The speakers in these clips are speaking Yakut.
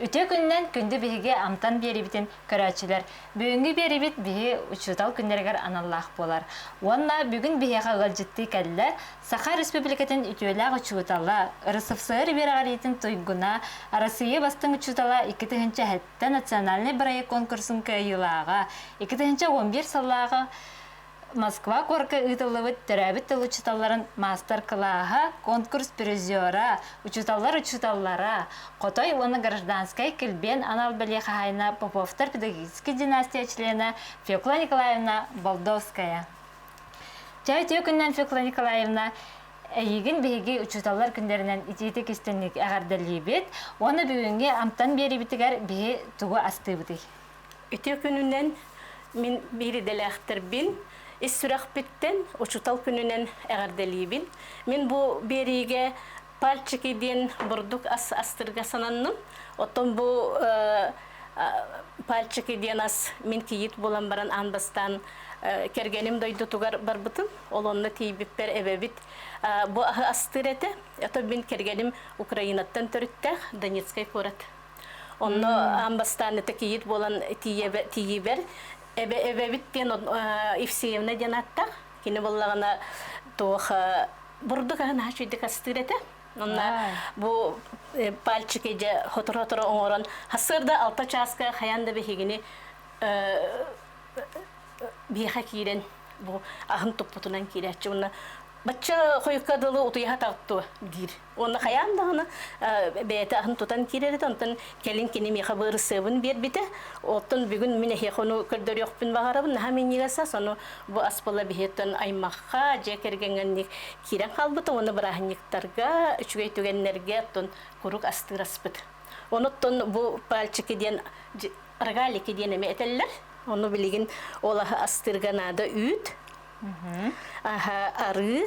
Үтүө күнүнэн күндү биһиги амтан биэриибитин көрөөччүлэр, бүгүҥҥү биэриибит биһи учуутал күннэригэр аналлаах буолар. Уонна бүгүн биһиэхэ ыалдьыттыы кэллэ Саха Республикатын үтүөлээх учуутала, РСФСР үөрэҕириитин туйгуна, Арассыыйа бастыҥ учуутала икки тыһыынча эһэттэн национальнай бырайыак конкурсун кыайыылааҕа, икки тыһыынча уон биир сыллааҕы Москва куоракка ыытыллыбыт төрөөбүт тыл учууталларын маастар-кылааһа, конкурс призера, учууталлар учууталлара, Хотой уонна гражданскай килбиэн анал бэлиэ хаһаайына Поповтар педагогическай династия члена Фекла Николаевна Болдовская. Чөөтүө күннэн Фекла Николаевна Эйигин биһиги учууталлар күннэринэн итиитик истинник эҕэрдэлиибит уонна бүгүҥҥү амтан биэрибитигэр биһи тугу астыыбытый? Ити күнүнэн мин бииридэлээхтэрбин ис сүрэхпиттэн Учуутал күнүнэн эҕэрдэлиибин. Мин бу биэриигэ пальчики диэн бурдук ас астырга сананным. Оттон бу пальчики диэн ас мин кийиит буолан баран аан бастаан кэргэним дойдутугар барбытым. Ол онно тиийбиппэр эбэбит бу аһы астыыр этэ. Ото мин кэргэним Украинаттан төрүттээх, Донецкай куорат Онно аан бастаан это кийиит буолан тиийибэр эбэбит диэн Евсеевна диэн ааттаах кини буллаҕына туох бурдук аһын аһа чүйдик астыыр этэ онно бу пальчики дьэ хоторо-хоторо оҥорон сырда алта чааска хайаан да биһигини биһиэхэ киирэн бу аһын туппутунан киирээччи уонна бачча хойукка дылы утуйаха тарту диир Онно хайаан даҕаны бэйэтэ аһын тутан киирэр этэ, онтон кэлин кини миэхэ быарысыабын биэрбитэ. Оттон бүгүн мин эһиэхэ ону көрдөрүөхпүн баҕарабын, наһаа минньигэс ас, ону бу ас балаһиһыттан аймахха, дьиэ кэргэҥҥэ киирэн хаалбыта уонна бырааһынньыктарга, үчүгэй түгэннэргэ оттон курук астыыр аспыт. Онуттан бу пальчики диэн рогалики диэн эмэ этэллэр. Ону билигин ол астыырга наада үүт, арыы,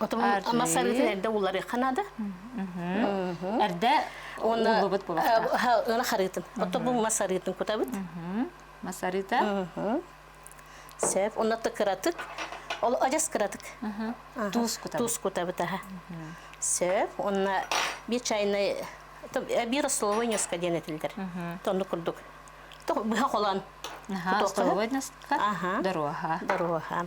Ама сарыытын эрдэ уларыха нада. Эрдэ уллубут була. Ына харыытын. Ото бу масарыытын кутабыт. Масарыыта. Сеп, онна ты кыратык. Ол ажас кыратык. Туус кутабыт. Туус кутабыт, аха. Сеп, онна би чайнай би рословой нёска диэн этилдер. Тонну курдук. Быһа холон. Рословой нёска. Дорога. Дорога.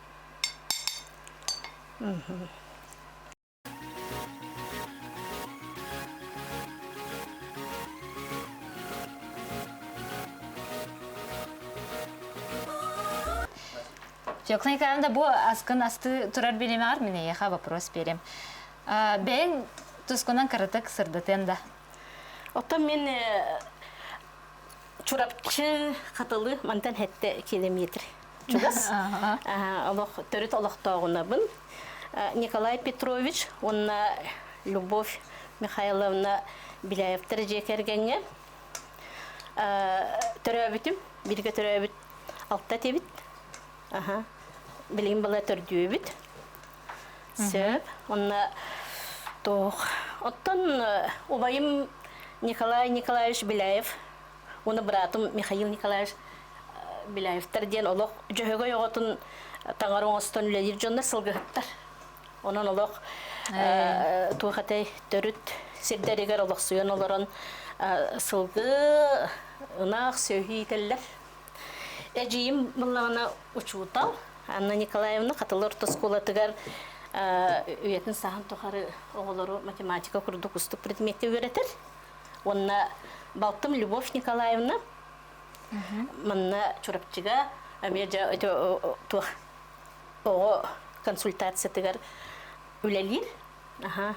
Жоқлайкаанда бу аскын асты турар билими ар мине яха вопрос берем. Бен тускунан кырытык сырдытын да. Оттон мен Чурапчы Хатылы мантан хетте километр. чугас олох төрүт олохтооҕунабын Николай Петрович уонна Любовь Михайловна Беляевтар дьиэ кэргэҥҥэ төрөөбүтүм биргэ төрөөбүт алта этибит аха билигин была төрдүүбүт сөп онна туох оттон убайым Николай Николаевич Беляев Уну братум Михаил Николаевич Беляевтар диэн олох Дьөһөгөй оҕотун таҥар оҥостон үлэлиир дьоннор сылгыһыттар. Онон олох туох этэй төрүт сирдэригэр олохсуйан олорон сылгы, ынах, сөһүү иитэллэр. Эдьиийим буллаҕына учуутал Анна Николаевна Хатылы орто оскуолатыгар үйэтин саһан тухары оҕолору математика курдук устук предметти үөрэтэр. Онна балтым Любовь Николаевна манна Чурапчыга эмиэ дьэ туох оҕо консультациятыгар үлэлиир. Аха.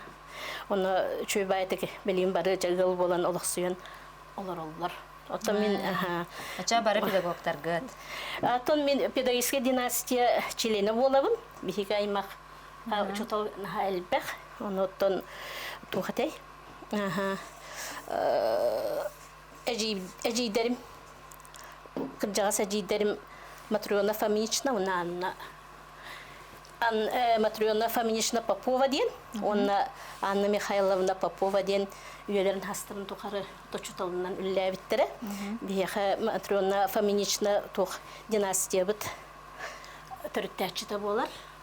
Оны чөйбаайтык билим бары жагыл болан олохсуйан олороллор. Оттон мин аха. Ача бары педагогтаргыт. Атын мин педагогическая династия члена болабын. Биһиги аймақ учутал элбэх. Оноттон тухатай Эдьиийдэрим, кырдьаҕас эдьиийдэрим Матрена Фомична уонна Матрена Фомична Попова диэн уонна Анна Михайловна Попова диэн үйэлэрин хастарын тухары учууталынан үллээбиттэрэ. Биһиэхэ Матрена Фомична туох династиябыт төрүттээччитэ буолар.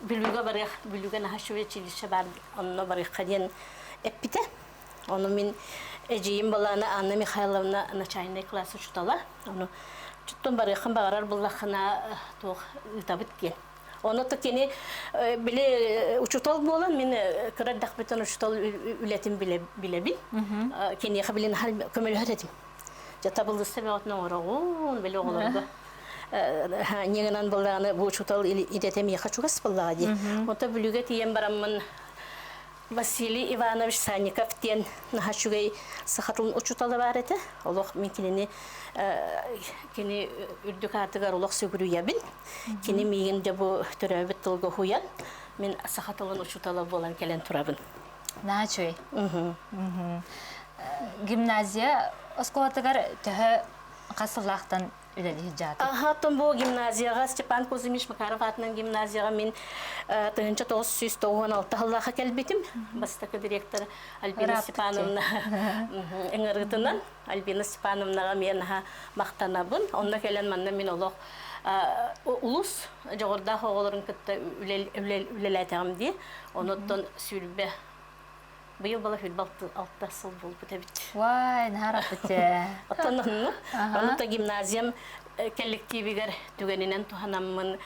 Бүлүүгэ барыах, Бүлүүгэ наһаа үчүгэй училище баар, онно барыахха диэн эппитэ. Ону мин эдьиийим балаана Анна Михайловна начальный класс учутала. Ону чуттун барыаххын баҕарар буллаххына туох ыытабыт диэн. Ону то кини били учутал буолан мин кыра дэхбитин учутал үлэтин билебин. Киниэхэ билин көмөлөһөр этим. Дьэ табыллыста бөҕөтүн оҥороҕун, били оҕолорго не гынан быллааны бу учутал идете миэхэ чугас быллаҕа дии. Ото бүлүгэ тиийэн бараммын Василий Иванович Санников диэн наһачугай сахатын учутала баар этэ. Олох мен кинини кини үрдүк аатыгар олох сүгүрүйэбин. Кини миигин де бу төрөөбүт тылга уһуйан, мен саха тылын учутала буолан кэлэн турабын. наачый гимназия оскуолатыгар төһө хас сыллаахтан үлэлиир дьааты Ахатын бу гимназияга Степан Кузьмич Макаров атынан гимназияга мин тыһынча тоғыз сүүс тоғыз алты сыллаха келбитим бастакы директор Альбина Степановна ыңырытынан Альбина Степановнаҕа эмиэ наһаа махтанабын. Онно кэлэн манна мин олох улус дьоҕурдаах оҕолорун кытта үлэлээтэҕим дии. Онуттан сүүрбэ быйыл балаһыырба алта сыл буолбут эбит. Вай, наһаараппыт дьэ. Оттон онно, онута гимназиям кэлликтиибигэр түгэнинэн туһанаммын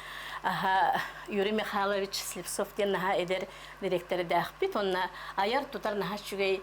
Юрий Михайлович Слепцов диэн наһаа эдэр дириэктэрдээхпит. Онно айар-тутар наһаа үчүгэй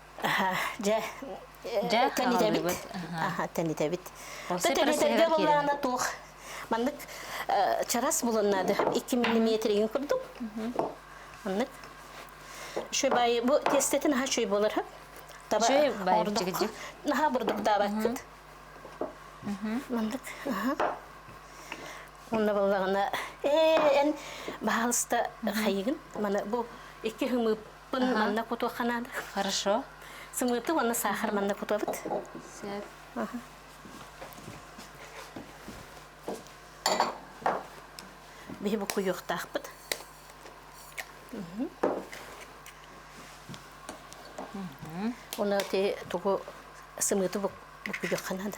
дьэ тэнитэбит тэнитэбит тэнитэргэ былаана туох маннык чарас булуннаады икки миллиметригин курдук маннык үчүгэй баайы бу тестетин аха үчүгэй болар хөп таба наха бурдук даабаккыт маннык онна баллаҕына э эн баһалыста хайыгын маны бу икки хымып Bunu манна кутуохха наада. Хорошо. Сымыыты уонна саахар манна кутуобут. Сөп. Биһи бу куйуохтаахпыт. Оны те тугу сымыыты бу куйуохха наада.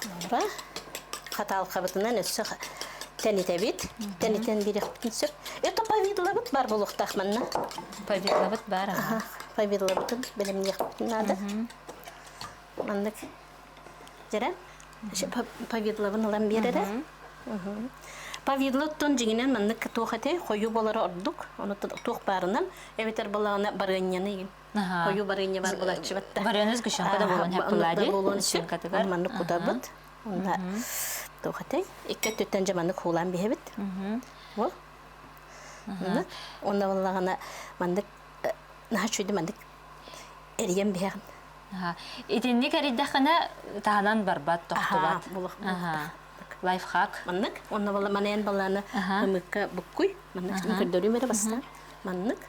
Туора хатаалкабытынан өссө тэнитэбит. Тэнитэн биэриэхпитин сөп. Это повидлабыт бар булуохтаах манна. Повидлабыт бар аҕа. Повидлабытын бэлэмниэхпитин наада. Маннык дьэрэ повидлабын ылан биэрэрэ. Повидлы оттон дьиҥинэн маннык туох этэ хойуу болара ордук. Ону туох баарынан эбэтэр балаҕана барыанньаны Хойуу барыанньабар булаччыбыт да. Барыаныс гүшанка да буолуон хаппылаади. Буолуон сөп. Маннык кутабыт. Онна туох этэй? Икки өттүттэн же маннык хуулаан биһэбит. Ол. Онна боллагана маннык наха чуйду маннык эрийэн биһэҕин. Итинник эрийдэххинэ таһанан барбат тохтубат. Лайфхак. Маннык. Онна болла манайан балланы ымыкка буккуй. Маннык көрдөрүү мере бастан. Маннык.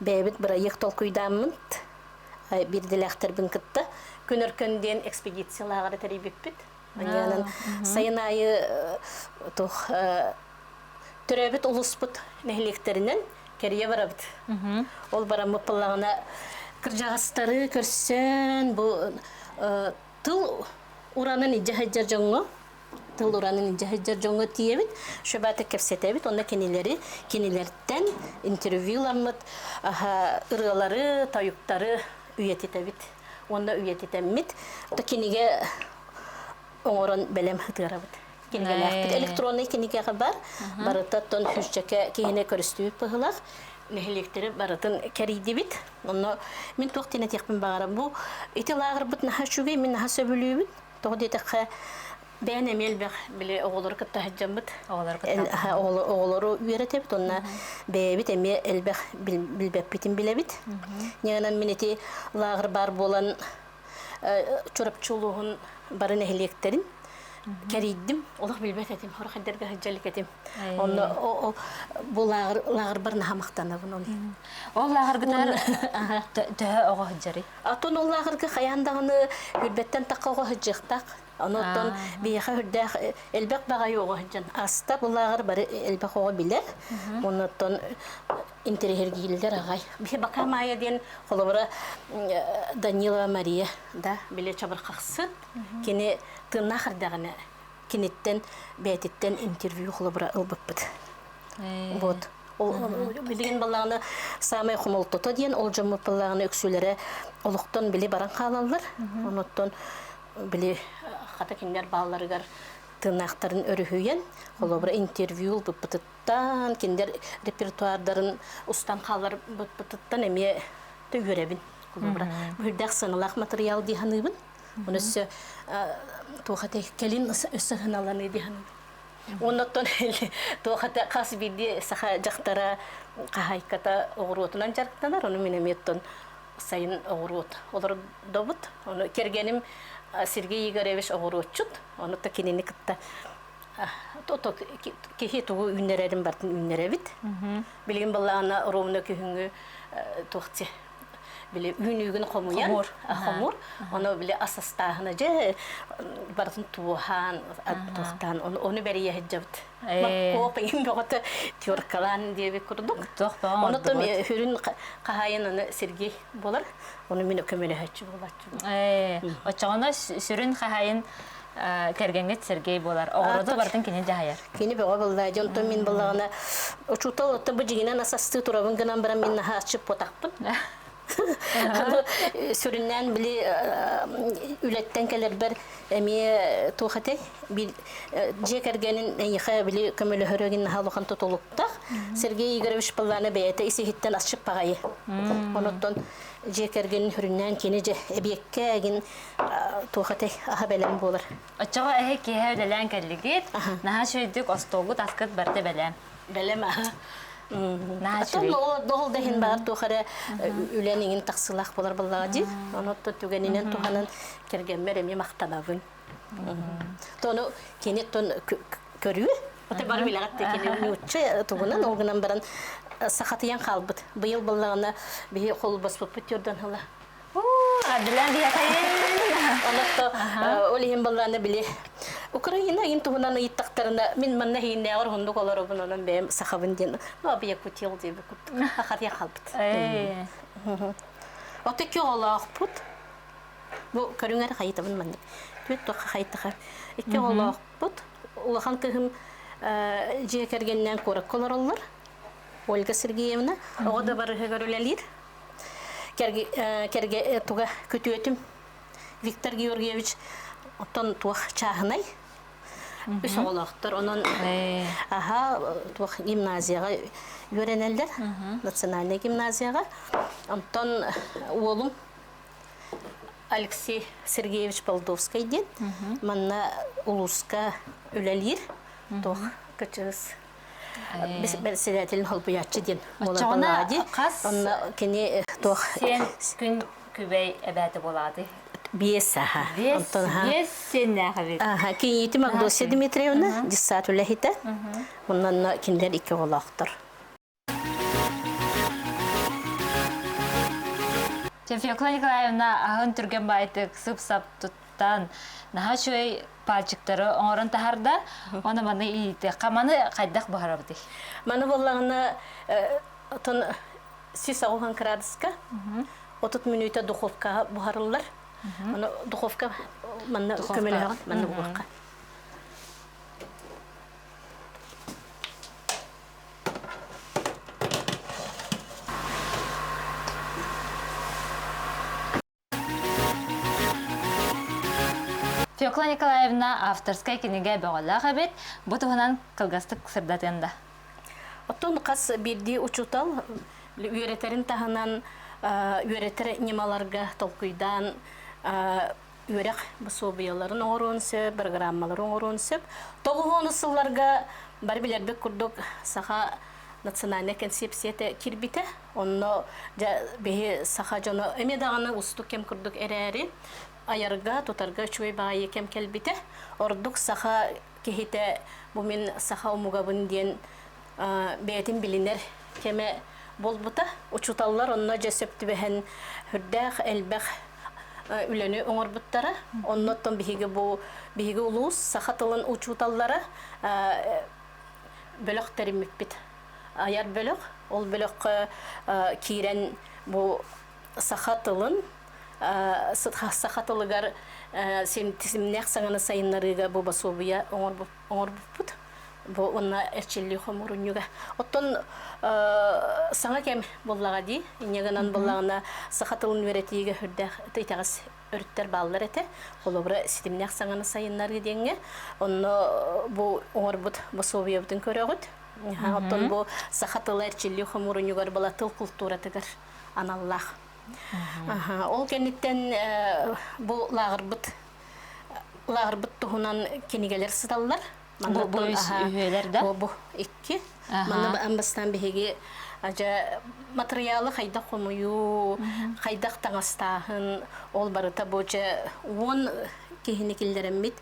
бэйэбит бырайыак толкуйдааммыт биирдэлээхтэрбин кытта күнөркөн диэн экспедициялааҕар тэрийбиппит манньаанан сайын аайы туох төрөөбүт улууспут нэһилиэктэринэн кэрийэ барабыт ол бараммыт пыллаҕына кырдьаҕастары көрсөн бу тыл уранын илдьэ сылдьар дьоҥҥо тылуранын дьаһыйдыр дьоҥҥо тиийэбит шөбааты кэпсэтэбит онно кинилэри кинилэртэн интервьюламмыт ырыалары тойуктары үйэтитэбит уонна үйэтитэммит кинигэ оҥорон бэлэм ытыарабыт кинигэлээхпит электронный кинигэҕэ бар барыта оттон хүсчэкэ киһини көрүстүбүт быһылах нэһилиэктэрэ барытын кэрийдибит онно мин туох тиэнэтиэхпин баҕарам бу ити лааҕырбыт наһаа үчүгэй мин наһаа сөбүлүүбүн Тоҕо диэтэххэ, бэйэн эмиэ элбэх били оҕолору кытта сылдьаммыт оҕолору кытта оҕолору үөрэтэбит онно бэйэбит эмиэ элбэх билбэппитин билэбит ньыгынан мин ити лааҕыр баар буолан Чурапчы улууһун бары нэһилиэктэрин кэрийдим олох билбэт этим хорахайдарга сылдьа илик этим онно бу лааҕыр бар наһа махтанабын ол ол лааҕыргытар төһө оҕо сылдьарый Атын уллааҕырга хайаан даҕаны үрбэттэн тахха оҕо сыдьыахтах. Онуттан биһиэхэ үрдээх э, элбэх баҕайы оҕо сыдьан. Аста уллааҕыр бары элбэх оҕо билэр. Онуттан интэриһиргииллэр аҕай. Биһи бака Майя диэн холобура Данилова Мария да биле чабырхахсыт. Кини тыыннаах эрдэҕинэ киниттэн бээтиттэн интервью холобура ылбыппыт. Вот. Билигин балаҕана самый хомолтото диэн ол дьоммут балаҕана үксүлэрэ олохтон били баран хаалаллар. Онуттан били хата кинилэр баалларыгар тыыннаахтарын өрүһүйэн, холобура интервью ылбыппытыттан, кинилэр репертуардарын устан хааларбыттыттан эмиэ үөрэбин. Холобура, быһырдах сыаналаах материал дии саныыбын. Оны өссө туох кэлин өссө сыһыналаны дии саныыбын. Оннотон туохата хас биирдии саха дьахтара хаһайката оҕуруотунан дьарыктанар, ону мин эмиэттэн сайын оҕуруот олордобут. Ону кэргэним Сергей Игоревич оҕуруотчут, ону то кинини кытта киһи тугу үүннэрэрин бартын үүннэрэбит. Билигин балаана ровно күһүҥҥү туохти били үүнүүгүн хомуйан хомур хомур ону били асастааһына дьэ барытын туоһаан аттыахтаан ону бэрийэ сылдьабыт маппоп иҥин бөҕөтө теркалаан диэбит курдук онутум үрүн хаһайын аны сергей болар оны мин көмөлөһөччү буолаччу оччоҕуна сүрүн хаһайын кэргэҥҥит Сергей буолар. Оҕуруоту барытын кини дьаһайар. Кини бөҕө быллаа. Дьэ, онтон мин быллаҕына, учуутал оттон бу дьигинэн асастыы турабын гынан баран, мин наһаа аччыппатахпын. Сүрүннээн били үлэттэн кэлэрбэр эмиэ туох этэй? Дьиэ кэргэнин эйиэхэ били көмөлөһөрөгүн наһаа улахан тутулуктаах. Сергей Игоревич Пыллана бэйэтэ ис-иһиттэн асчыппаҕайы. Онуттан дьиэ кэргэнин сүрүннээн кини дьэ эбиэккэ эгин туох этэй аһа бэлэм буолар оччоҕо эһи киэһэ үлэлээн кэллигит наһаа үчүгэйдик остуолгут аскыт барыта бэлэм бэлэм аһа доһол да иһин баар туох эрэ үлэн иҥин тахсылаах болар баллаҕа дии ону отто түгэнинэн туһанан кэргэммэр эмиэ махтанабын тону кини тон көрүү оте бары билэҕитте кини ньучча тугунан ол гынан баран сахатыйан хаалбыт быйыл баллаҕына биһи холбоспуппут йордан ала Адреналин Онотто ол иһин боллааны били Украина иин туһунан ыйыттахтарына мин манна хииннээҕэр уһуннук олоробун онон бэйэм сахабын диэн абия кутил диэби куттук хахатия халбыт Отто кёолоохпут бу көрүңэр хайытабын маннык түт тоқа хайтаха икки олоохпут улахан кыһым дьиэ кэргеннээн куоракка олороллор Ольга Сергеевна, оҕо дабарыһыгар үлэлиир. Кэргэ, кэргэ туга күтүөтүм Виктор Георгиевич, оттон туох чааһынай? Үс оҕолоохтор, онон аха туох гимназияҕа үөрэнэллэр, национальнай гимназияҕа. Онтон уолум Алексей Сергеевич Болдовскай диэн, манна улууска үлэлиир, туох кычыс Председателин холбуйаччы диэн буолан хас онно кини туох сен күн күбэй эбээте болааты биэс аха оттон биэс сеннээх эбит аха киниити Магдосия Дмитриевна десат үлэһитэ муннанна киндер икки олохтор Тевфекла Николаевна аһын түргэн байтык сып-сап туттан наһа чөй пальчиктары оҥорон таһарда, оны маны иитиэххэ. Маны хайдах быһарабытый? Маны буллаҕына отон сис оҕуһан кыраадыска отут мүнүүтэ духовкаҕа буһарыллар. Оны духовка манна көмөлөһөҕүн, манна угуохха. Фекла Николаевна авторская кинигэ бөҕөлөөх эбит. Бу туһунан кылгастык сырдатыан да. Оттон хас биирдии учутал үөрэтэрин таһынан үөрэтэр ньымаларга толкуйдаан үөрэх босуобуйаларын оҥоруон сөп, программалары оҥоруон сөп. Тоҕуһуон сылларга бары билэрбит курдук саха национальнай концепцията кирбитэ Онно дьэ биһи саха дьоно эмиэ даҕаны устук кэм курдук эрээри, айарга, тутарга үчүгэй баайыы кэм кэлбитэ. Ордук саха киһитэ бу мин саха омугабын диэн бэйэтин билинэр кэмэ буолбута. Учууталлар онно дьэ сөп түбэһэн үрдээх элбэх үлэни оҥорбуттара. Оннуттан биһиги бу биһиги улуус саха тылын учууталлара бөлөх тэриммиппит. айар бөлөх. Ол бөлөххө киирэн бу саха тылын саха тылыгар симнэх саҥаны сайыннарыыга бу босуобуйа оҥорбуппут бу уонна эрчиллии хомурунньуга оттон саҥа кэм буллаҕа дии инньэ гынан буллаҕына саха тылын үөрэтиигэ үрдээх итэҕэс өрүттэр бааллар этэ. Холобура, ситимнээх саҥаны сайыннарыы диэҥҥэ. Онно бу оҥорбут босуобуйабытын көрөҕүт. Оттон бу саха тыла эрчиллии хомуурунньугар была тыл култууратыгар аналлаах. Ол кэнниттэн бу лааҕырбыт лааҕырбыт туһунан кинигэлэр сыталлар. бу икки манна баан бастаан биһиги адьа материалы хайдах хомуйуу хайдах таҥастааһын ол барыта бу дьэ уон киһини киллэриммит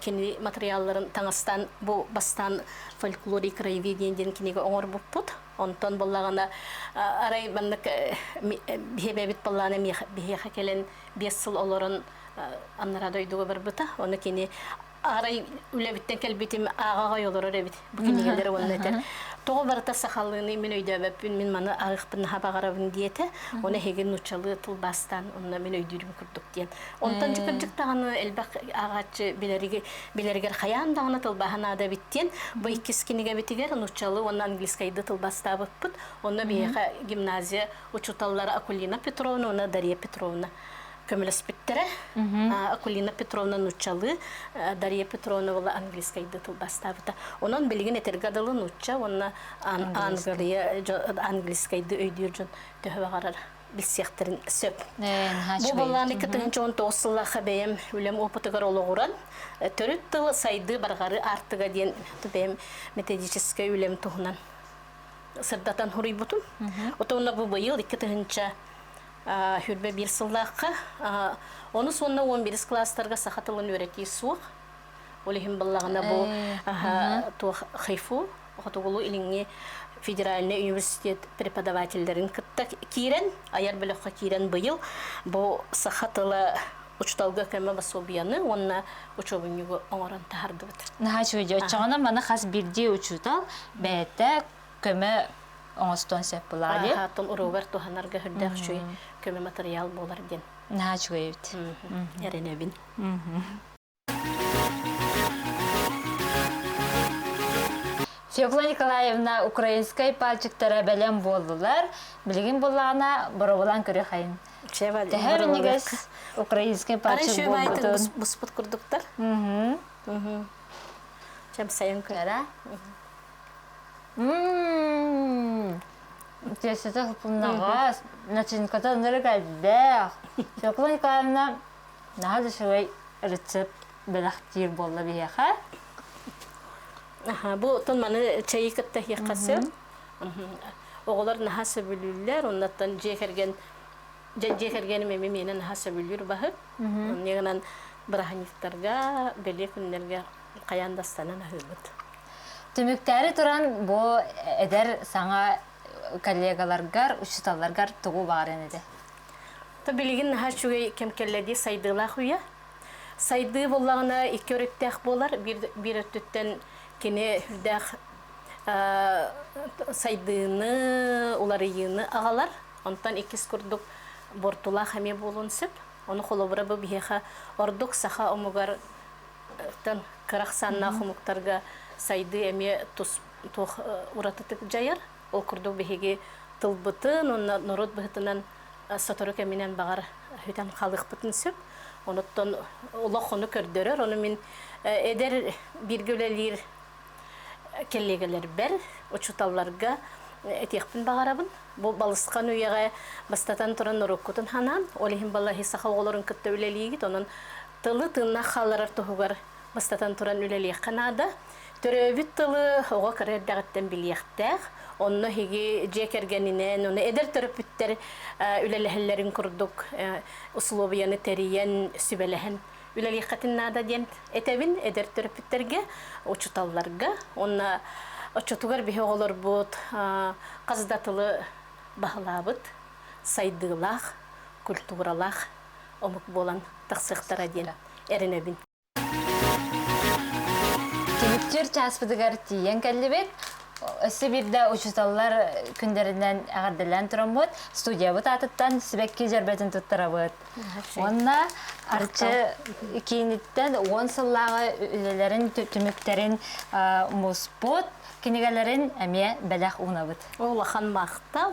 кини материалларын таҥастан бу бастаан фольклор и краеведение диэн кинигэ оҥорбуппут онтон буллаҕына арай маннык биһэбэбит баллаана биһиэхэ кэлэн биэс сыл олорон аннараа дойдуга барбыта оны кини Арай үлэбиттэн кэлбитим ааҕаҕай олорор эбит бу кинигэлэр уонна этэр тоҕо барыта сахалыыны мин өйдөөбөппүн мин маны арыхпын наһаа баҕарабын диэтэ оны эһигин нуччалыы тылбаастаан онно мин өйдүүрүм курдук диэн онтон дьыкырдьык даҕаны элбэх ааҕааччы билэриги билэригэр хайаан даҕаны тылбааһа наада эбит диэн бу иккис кинигэбитигэр нуччалыы уонна английскайды тылбастаабыппыт онно биһиэхэ гимназия учууталлара Акулина Петровна уонна Дария Петровна көмөлөспүттэрэ Акулина Петровна нуччалыы Дарья Петровна была английскай тылбастаабыта онон билигин этэргэ дылы нучча уонна английскайды өйдүүр дьон төһө баҕарар билсиэхтэрин сөп бу боллаан екі тыһынча он тоғыз сыллаха бэйэм үлэм опытыгар олоҕуран төрүт тыл сайдыы барҕары артыга диэн бэйэм методическай үлэм туһунан сырдатан хуруйбутум отонно бу быйыл екі тыһынча Хүрбэ биир сыллаахха онус уонна уон бирис класстарга саха тылын үөрэтии суох. Ол иһин быллаҕына бу туох хайфу хотугулуу илиҥҥи федеральный университет преподавателлэрин кытта киирэн айар бөлөххө киирэн быйыл бу саха тыла учуталга көмө басобияны уонна учебнигу оңорон таһардыбыт. Наһаа үчүгэй оччоҕуна маны хас бирдии учуутал бэйэтэ көмө оҥостуон сөп былаан. Аатын уруогар туһанарга сүрдээх үчүгэй көмө матырыйаал буолар диэн. Наһаа үчүгэй эбит. Эрэнэбин. Февла Николаевна украинскай пальчиктара бэлэм буоллулар. Билигин буоллаҕына боробулан көрүөхэйин. Тэһэр өнүгэс украинскай пальчик буолбутун. Буспут курдуктар. Чам сайын көрө. Чэсэтэ супуннаҕас, начинката ыныры кэлбэх. Свеклана Николаевна наһаа да үчүгэй рецепт бэлэхтиир буолла биһиэхэ. Аха, бу тон маны чэйи кытта иһиэххэ сөп. Оҕолор наһаа сөбүлүүллэр, оннуттан дьиэ кэргэн дьиэ кэргэним эми миэнэ наһаа сөбүлүүр баһыт. Оннугынан бырааһынньыктарга, бэлиэ күннэргэ хайаан да станан аһыыбыт. Түмүктээри туран бу эдэр саҥа коллегаларгар, учууталларгар тугу баарын ити? То билигин наһаа үчүгэй кэм кэллэ дии сайдыылаах үйэ. Сайдыы буллаҕына икки өрүттээх буолар. Биир, биир өттүттэн кини үрдээх сайдыыны, уларыйыыны аҕалар. Онтон иккис курдук буортулаах эмиэ буолуон сөп. Ону холобура бу биһиэхэ ордук саха омугар тан кырахсаннаах омуктарга сайдыы эмиэ тус туох уратытык дьайар ол курдук биһиги тылбытын уонна норуот быһытынан сотору кэминэн баҕар хүтэн халыахпытын сөп онуттан олох ону көрдөрөр ону мин эдэр бииргэ үлэлиир коллегаларбар учууталларга этиэхпин баҕарабын бу балысхан үйэҕэ бастатан туран уруккутун ханаан ол иһин балаһи саха оҕолорун кытта үлэлиигит онон тылы тыыннах хаалларар туһугар, бастатан туран, үлэлиэххэ наада. Төрөөбүт тылы оҕо кыра эрдэҕиттэн билиэхтээх, онно эһиги дьиэ кэргэнинэн, ону эдэр төрөппүттэр үлэлэһэллэрин курдук усулуобуйаны тэрийэн, сүбэлэһэн үлэлиэххитин наада диэн этэбин эдэр төрөппүттэргэ, учууталларга. Уонна оччотугар биһи оҕолорбут хас да тылы баһылаабыт, сайдыылаах, культуралаах омук буолан тахсыахтара диэн эрэнэбин. Түмүктүр чааспытыгар тиийэн кэллибит. Өссө биирдэ учууталлар күндэринэн эҕэрдэлээн тураммыт, студиябыт аатыттан сибэкки дьөрбөтүн туттарабыт. Уонна Арчы кииниттэн уон сыллааҕы үлэлэрин түмүктэрин муспут, кинигэлэрин эмиэ бэлэх уунабыт. Улахан махтал!